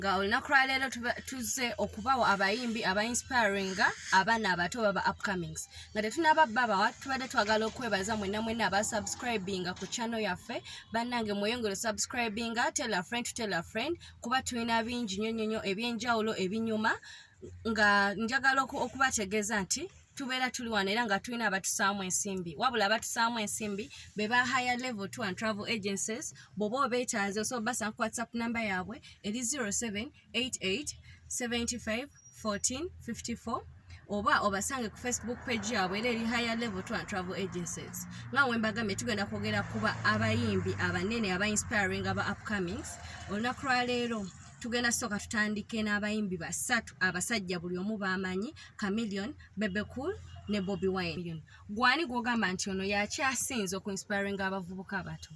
nga olunaku lwaleero tuzze okubawo abayimbi aba inspiringa abaana abato baba upcomings nga tetunaba babawa tubadde twagala okwebaza mwena mwena aba subscribinga ku chano yaffe bannange mweyongere subscribinga tell a friend to tell a friend kuba tulina bingi nyonyonyo ebyenjawulo ebinyuma nga njagala okubategeeza nti tubeera tuli wano era nga tulina abatusaamu ensimbi wabula abatusaamu ensimbi be ba higher level to and travel agencies bwoba obeetaaze oso basa ku whatsapp namba yaabwe eri 0788 75 14 54 oba obasange ku facebook page yaabwe era eri higher level to and travel agencies nga wembagambe tugenda kwogera kuba abayimbi abanene aba inspiring aba upcomings olunaku lwaleero tugenda soka tutandike n'abayimbi basatu abasajja buli omu bamanyi camilion bebecool ne bobi wine gwani gwogamba nti ono yakyasinze oku inspiringa abavubuka abato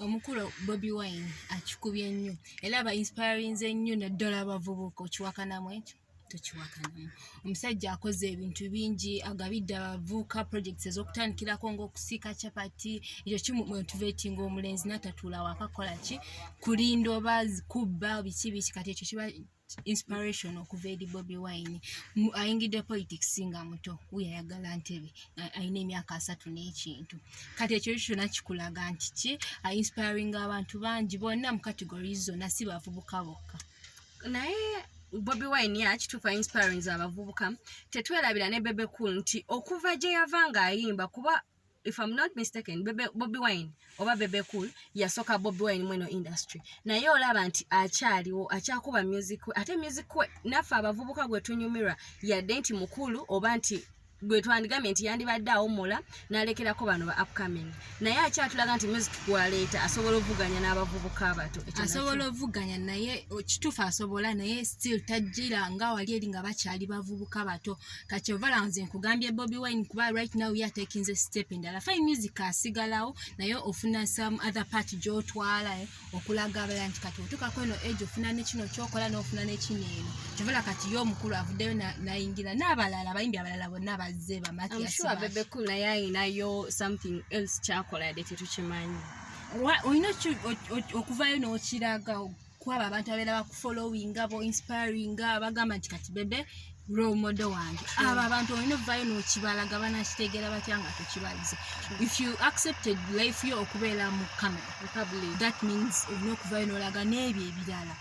omukulu bobi wine akikubye nnyo era aba inspirinze nnyo naddala abavubuka okiwakanamu ekyo tukiwakanya omusajja akoze ebintu bingi agabidde abavuuka projects ezokutandikirako ngaokusiika chapati ekyo kimumotivatinga omulenzi natatuula wakakola ki kulinda oba kubba biki biki kati ekyo kiba inspiration okuva eri bobi wine ayingidde politics nga muto wuyo ayagala ntebe alina emyaka asatu n'ekintu kati ekyo ekyo kyona kikulaga nti ki ainspiringa abantu bangi bonna mu categories zonna si bavubuka bokka naye bobi wine yakituuka inspirings abavubuka tetwerabira ne bebe cool nti okuva gye yava ng'ayimba kuba if i'm not mistaken bebe, bobi wine oba bebe cool yasooka bobi wine mweno industry naye olaba nti akyaliwo akyakuba music we ate music we naffe abavubuka gwe tunyumirwa yadde nti mukulu oba nti gwe twandigambye nti yandibadde awummula nalekerako bano ba upcoming naye akyatulaga nti music gwaleeta asobola okuvuganya n'abavubuka abato asobola okuvuganya naye kituufu asobola naye still tajjira nga wali eri nga bakyali bavubuka bato kakyovala nze nkugambye bobi wine kuba right now ye atekinze step endala fine music asigalawo naye ofuna some other part gyotwala eh. okulaga abalala nti kati otuukako eno age ofuna nekino kyokola nofuna nekino eno kyovala kati ye omukulu avuddeyo nayingira n'abalala abayimbi abalala bonna bazze bamatyaayinayo something else kyakola yadde tetukimanyi olina okuvayo n'okiraga kwabo abantu abeera bakufollowinga bo inspiringa bagamba nti kati bebe romodo wange abo abantu olina ovayo nokibalaga banakitegera batya nga tokibalize if you accepted life yo okubeera mu camera that means olina okuvayo nolaga n'ebyo ebirala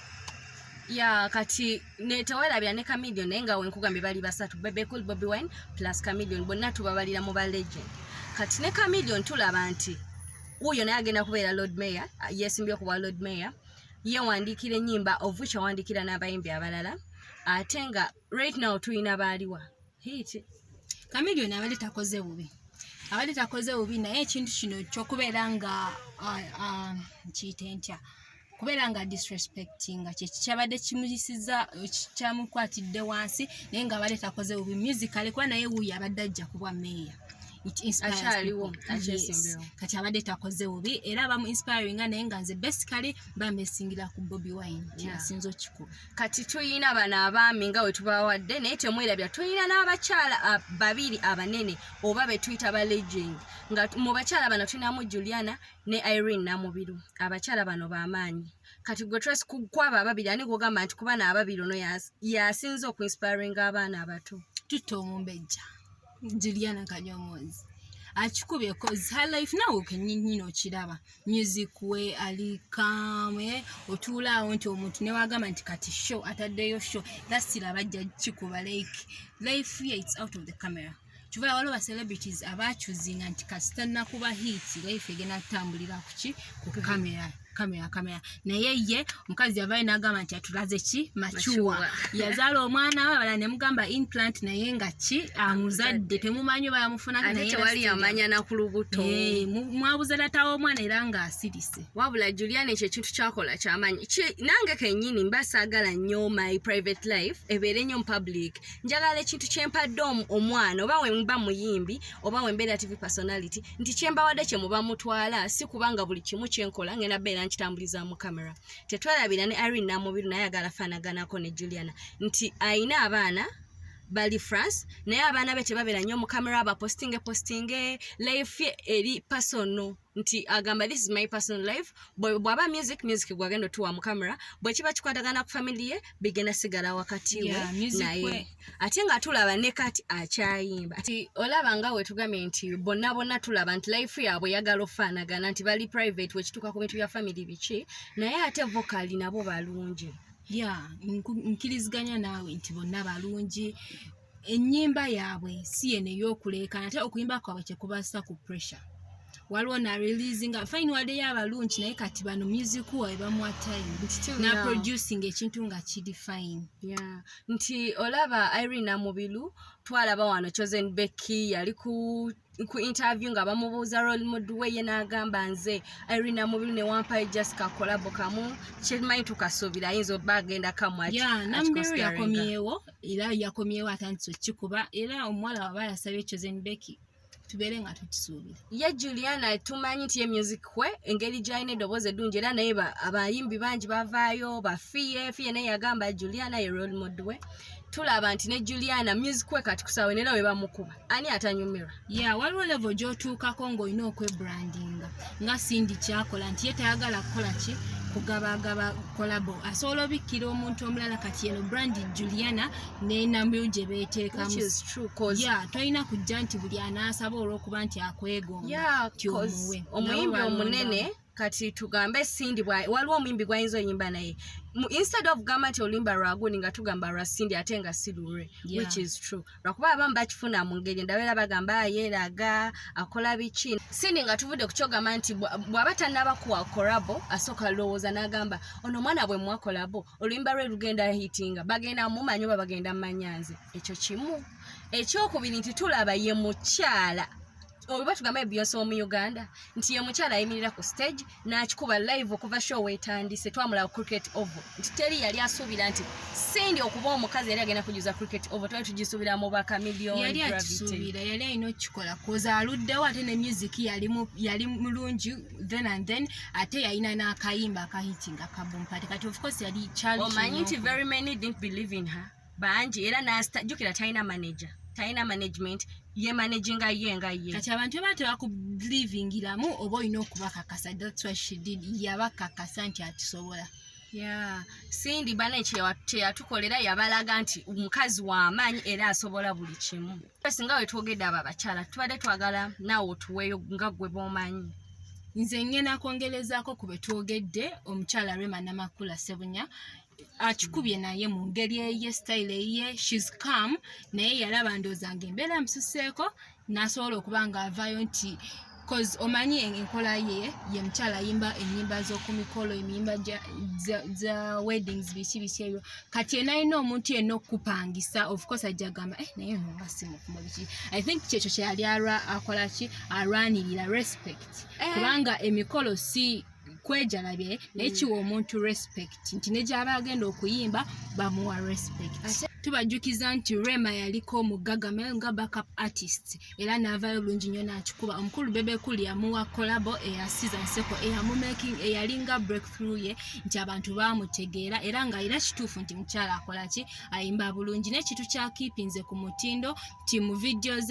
ya kati netewalabya ne camilion naye nga wenkugambye bali basatu bebecool bobi wine plus camilion bonna tubabalira mu ba legend kati ne camilion tulaba nti wuyo naye agenda kubeera lord mayor yesimbye okubwa lord mayor yewandiikira enyimba of which awandiikira n'abayimbi abalala ate nga right now tulina baaliwa hit kamilioni abadde takoze bubi abadde takoze bubi naye ekintu kino kyokubeera nga nkiyite ntya kubeera nga disrespectinga kyekikyabadde kimuyisiza kyamukwatidde wansi naye nga abadde takoze bubi musicaly kuba naye wuyo abadde ajja kubwa meeya it inspires Akyaliwo, people. akyesimbewo. Yes. kati abadde takoze bubi era abamu inspiringa naye nga nze basically bamesingira ku bobi wine Yeah. kyenasinza okikuba kati tulina bano abaami nga wetubawadde naye temwerabira tulina n'abakyala a- babiri abanene oba betuyita ba legend nga t- mu bakyala bano tulinamu juliana ne irene namubiru abakyala bano bamaanyi kati gwe tres kwabo ababiri ani gwogamba nti kubana ababiri ono yas- yasinze okuinspiringa abaana abato tutta omumbejja juliana kanyomozi akikubye ah, cause her life nawe kenyini okiraba music we ali kame eh? otuula awo nti omuntu newagamba nti kati show ataddeyo show dasira bajja kikuba like life ye its out of the camera kivula waliwo bacelebrities abacuzinga nti kasita nakuba hiiti life egenda kutambulira kuki ku kamera kamera kamera naye ye omukazi yavayo nagamba nti atulaze ki macuwa yazaala omwana we abala nemugamba implant naye nga ki amuzadde temumanyi oba yamufunako nayetewali yamanya nakulubuto eh, mwabuza datawo omwana era nga asirise wabula julian ekyo ekintu kyakola kyamanyi nange kenyini mba saagala nnyo my private life ebeere nnyo mupublic njagala ekintu kyempadde omwana oba wemba muyimbi oba wembeera tv personality nti kyembawadde kye muba mutwala si kubanga buli kimu kyenkola ngenda beera nkitambuliza mu camera tetwerabira ne irene namubiru naye agala fanaganako ne juliana nti ayina abaana bali france naye abaana be tebabeera nnyo mu camera abapostinge postinge life ye eri pasono nti agamba this is my personal life bwaba music music gwagenda otuwa mu camera bwekiba kikwatagana ku family ye bigenda sigala wakati we naye ate nga tulaba ne kati akyayimba ati olaba nga wetugambye nti bonna bonna tulaba nti life yaabwe yagala ofaanagana nti bali private wekituuka ku bintu bya famiry biki naye ate vokali nabo balungi ya nkiriziganya naawe nti bonna balungi ennyimba yaabwe si yene eyokuleekana ate okuyimba kwabwe kyekubasa ku pressure waliwo na release nga fine wadeyo abalungi naye kati bano music wawe bamwa time na producing ekintu nga kidi fine yeah. nti olaba irina mubilu twalaba wano chosen becky yali ku ku interview nga bamubuuza role mood we ye n'agamba nze irina mubilu ne wampayo just kakolabo kamu kyemanyi tukasuubira ayinza oba agenda kamwakinambiru yakomyewo era yakomyewo atandise okukikuba era omuwala waba yasabye chosen becky tubeere nga tukisuubira ye juliana tumanyi nti ye music we engeri gyalina eddoboozi eddungi era naye abayimbi bangi bavaayo bafiye fiye naye yagamba juliana ye role mod we tulaba nti ne juliana music we katukusawe nera we bamukuba ani atanyumirwa ya yeah, waliwo levo gyotuukako ng'olina okwebrandinga nga sindi kyakola nti ye tayagala kukola ki kugabagaba kolabo asobola obikkira omuntu omulala kati yeno brandi juliana nenambiru gye beteekamu tolina kujja nti buli anaasaba olwokuba nti akwegomba tyomuwe omuyimbi omunene kati tugambe sindi waliwo omuyimbi gwayinza oyimba naye instead of gamba nti oluyimba lwagundi nga tugamba lwa sindi ate nga si lulwe which is true lwakuba abamu bakifuna mu ngeri ndabeera bagamba ah, yeeraga akola biki sindi nga tuvudde ku kyogamba nti bw'aba tannabakuwa korabo asooka lowooza n'agamba ono omwana bwe mwakolabo oluyimba lwe lugenda hitinga bagenda mumanya oba bagenda mumanya nze ekyo kimu ekyokubiri nti tulaba ye mukyala oba tugamba ebiyonsa omu uganda nti ye mukyala ayimirira ku stage n'akikuba live okuva show wetandise twamulaba cricket ovo nti teri yali asuubira nti sindi okuba omukazi yali agenda kujuza cricket ovo twali tugisuubira mu bakamiliyoniyali akisuubira yali alina okukikola koza aluddewo ate ne music yali mulungi then and then ate yalina n'akayimba akahitinga kabumpate kati of course yali omanyi nti very many didn't believe in her bangi era najukira talina manager talina management ye managing nga ye nga ye kati abantu baba tebakubelivingiramu oba olina okubakakasa thats why she did yabakakasa nti akisobola ya sindi bana kyeyatukolera yabalaga nti omukazi wamaanyi era asobola buli kimu singa wetwogedde abo abakyala tubadde twagala naawe otuweeyo nga gwe bwomanyi nze ngenda kwongerezaako ku be twogedde omukyala rema namakula sebunya akikubye naye mu ngeri eye sitayile eye shes com naye yalaba ndooza nga embeera amususeeko n'asobola okuba ng'avaayo nti cause omanyi enkola ye ye mukyala ayimba enyimba zokumikolo emiyimba za weddings biki biki ebyo kati enalina omuntu yena okupangisa ofcourse ajja gamba eh, naye nongasimukumu biki i think kyekyo kyeyali akolaki alwanirira respect eh. kubanga emikolo si eh. kwejalabye naye kiwa omuntu respect nti ne gyaba agenda okuyimba bamuwa respect tubajjukiza nti rema yaliko omuggaga maye nga backup artist era naavayo bulungi nnyo nakikuba omukulu bebekuli yamuwa kolabo eya siza nseko eyamumaking eyalinga breakthrough ye nti abantu bamutegeera era nga era kituufu nti mukyala akolaki ayimba bulungi nekintu kya keepinze ku mutindo nti mu videos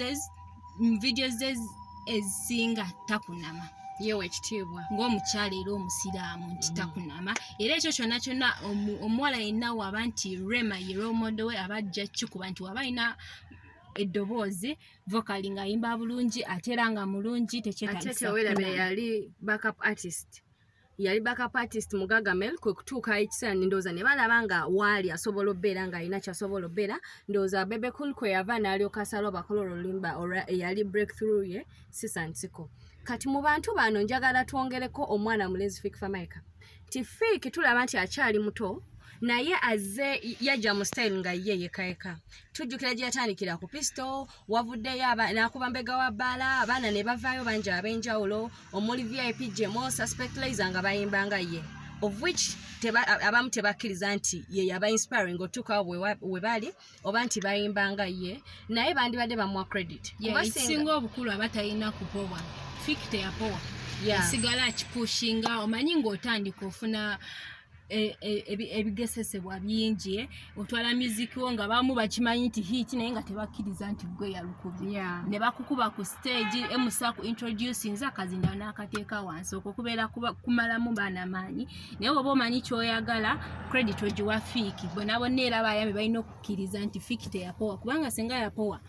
muvidiyo ze ezisinga takunama yewa ekitiibwa ngaomukyala era omusiraamu nti mm. takunama era ekyo kyona kyona omuwala yenna waba nti rema ye romodo we aba ajja kikuba nti waba alina eddoboozi vokali ngaayimba bulungi ate era nga mulungi tekyetaa yali backup artist mu Gagamel kwe kutuuka ekiseera ndowooza ne balaba nga waali asobola obbeera ng'alina kyasobola obbeera ndowooza Bebe Cool kwe yava n'alyoka asalawo bakola olulumba olwa eyali breakthrough ye Sisa Nsiko kati mu bantu bano njagala twongereko omwana mulezi Fik Famaica nti Fik tulaba nti akyali muto naye azze yajja mu style nga ye yekayeka tujjukira gye yatandikira ku pistol wavuddeyo nakuba mbega wa bbaala abaana ne bavaayo bangi ab'enjawulo omuli vip jemo suspect laser nga bayimba nga ye of which teba, abamu tebakkiriza nti ye yaba inspiring otuukawo we bali oba nti bayimba nga ye naye bandibadde bamuwa credit kubasinga obukulu aba talina kupowa fik teyapowa yeah. esigala kipushinga omanyi ng'otandika ofuna e, e, ebigesesebwa bingi eh? otwala muziki wo nga bamu bakimanyi nti hiiti naye nga tebakkiriza nti gwe yalukubye ne bakukuba ku stage emusa ku introduce nza kazinda n'akateeka wansi okwo kubeera kumalamu baana maanyi naye oba omanyi kyoyagala credit ogiwa fiiki bona bonna era bayambi balina okukkiriza nti fiiki teyapowa kubanga singa yapowa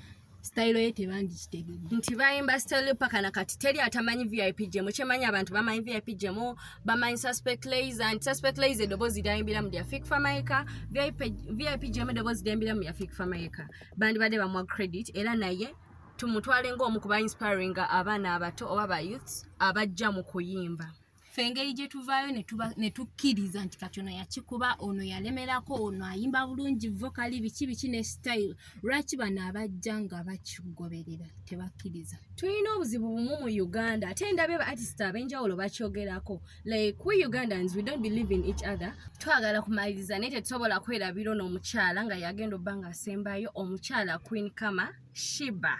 sitayiro ye tebandikitegedde nti bayimba sitayiro paka na kati teri atamanyi vip gemu kyemanyi abantu bamanyi vip gemu bamanyi suspect laser nti suspect laser eddoboozi lyayimbira mu lyafik famaika vip gemu eddoboozi lyayimbira mu lyafik famaika bandibadde bamuwa credit era naye tumutwale ngaomu kuba inspiringa abaana abato oba ba youths abajja mu kuyimba ffe engeri gye tuvaayo ne tukkiriza nti kati ono yakikuba ono yalemerako ono ayimba bulungi vokali biki biki ne sitayiro lwaki bano abajja nga bakigoberera tebakkiriza tulina obuzibu bumu mu uganda ate ndabe ba artist ab'enjawulo bakyogerako like we ugandans we don't believe in each other twagala kumaliriza naye tetusobola kwerabira ono omukyala nga yagenda obba nga asembayo omukyala queen kama shiba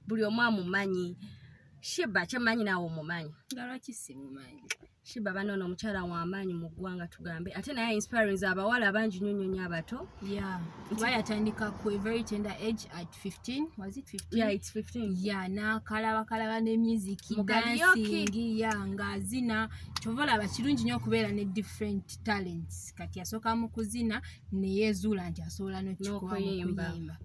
buli omu amumanyi Shiba kyemanyi naawe omumanyi. Nga lwaki simumanyi? Shiba bano ono omukyala w'amaanyi mu ggwanga tugambe ate naye inspirings abawala abangi nnyo nnyo nnyo abato. Yeah. Kuba yatandika ku a very tender age at 15. Was it 15? Yeah, it's 15. Yeah, n'akalabakalaba ne music, dancing, yeah, ng'azina. Kyova olaba kirungi nnyo okubeera ne different talents. Kati yasooka mu kuzina ne yeezuula nti asobola n'okukikola mu kuyimba.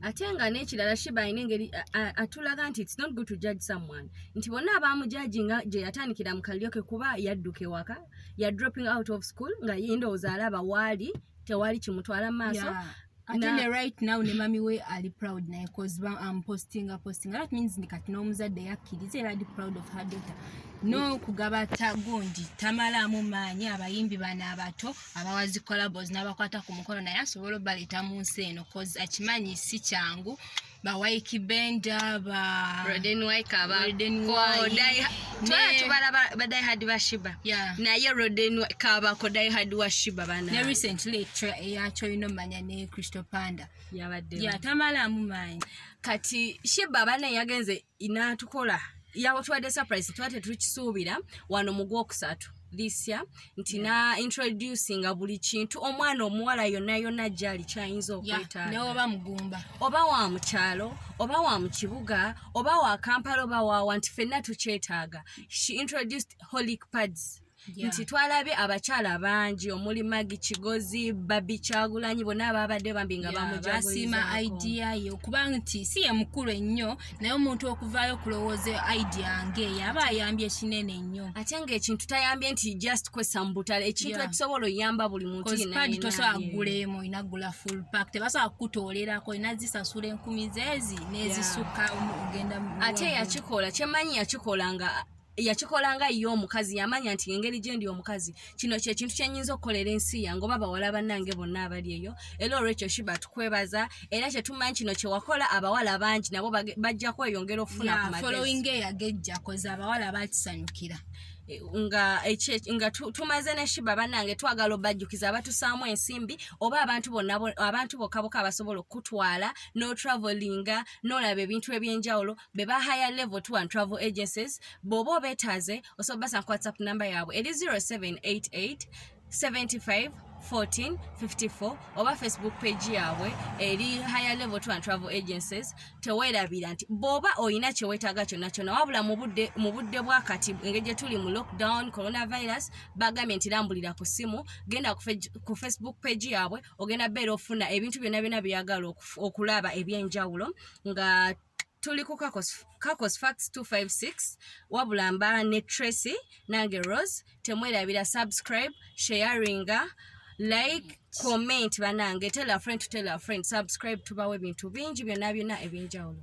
ate nga n'ekirala shiba alina engeri atulaga nti its not good to judge someone nti bonna abaamujaji nga gye yatandikira mu kalyo ke kuba yadduka ewaka ya dropping out of school nga yendowooza alaba waali tewali kimutwala mu maaso yeah. ate ne right now ne mami we ali proud naye cause ba am posting a posting that means ni kati n'omuzadde yakkiriza era ali proud of her daughter no kugaba tagundi tamalamu maanyi abayimbi bana abato abawa zi collabos n'abakwata ku mukono naye asobola obaleeta mu nsi eno cause akimanyi si kyangu ba waiki benda ba roden waika ba roden waika twala tubala ba dai hard ba shiba yeah naye roden waika ba ko dai hard wa shiba bana ne recently tra ya choino manya ne crystal panda yabadde yeah tamala mu mind kati shiba bana yagenze inatukola yawo twade surprise twate tukisuubira wano mu gwokusatu this year nti yeah. na introduce nga buli kintu omwana omuwala yonna yonna gyali kyayinza okwetaaga yeah. oba mugumba oba wa mukyalo oba wa mu kibuga oba wa kampala oba wawa nti fenna tukyetaaga she introduced holic pads yeah. nti twalabye abakyala bangi omuli magi kigozi babi kyagulanyi bonna ababadde bambi nga yeah, bamujasiima idea ye okuba nti si ye mukulu ennyo naye omuntu okuvaayo okulowooza idea nge yaba ayambye kinene nnyo ate ngaekintu tayambye nti just kwesa mu butale ekintu yeah. ekisobola oyamba buli muntuadi tosobola kugulemu olina gula full park tebasobola kukutoolerako olina zisasula enkumi zeezi nezisukka yeah. ogenda ate yakikola kyemanyi yakikola nga yakikola nga ye omukazi yamanya nti engeri gyendi omukazi kino kyekintu kyenyinza okukolera ensi yange oba bawala bannange bonna abali eyo era olwekyo shiba tukwebaza era kyetumanyi kino kyewakola abawala bangi nabo bajja kweyongera okufuna abawala bakisanyukira e, nga nga tumaze ne shiba bannange twagala obajjukiza abatusaamu ensimbi oba abantu bonna abantu bokka boka abasobola okukutwala n'otravelinga n'olaba ebintu eby'enjawulo be ba higher level tour and travel agencies bw'oba obeetaaze osobola basanga ku whatsapp namba yaabwe eri 0788 75 14 54 oba facebook page yaabwe eri higher level tour and travel agencies teweerabira nti bw'oba olina kye weetaaga kyonna kyonna wabula mu budde bwa kati engeri gye tuli mu lockdown coronavirus bagambye nti lambulira ku ssimu genda ku facebook page yaabwe ogenda beera ofuna ebintu byonna byonna byeyagala okulaba eby'enjawulo nga tuli ku kakos fax 256 wabula mba ne tracy nange rose temwerabira subscribe sharinga like comment banange tell a friend to tell a friend subscribe tubawo ebintu bingi byonna byonna ebyenjawulo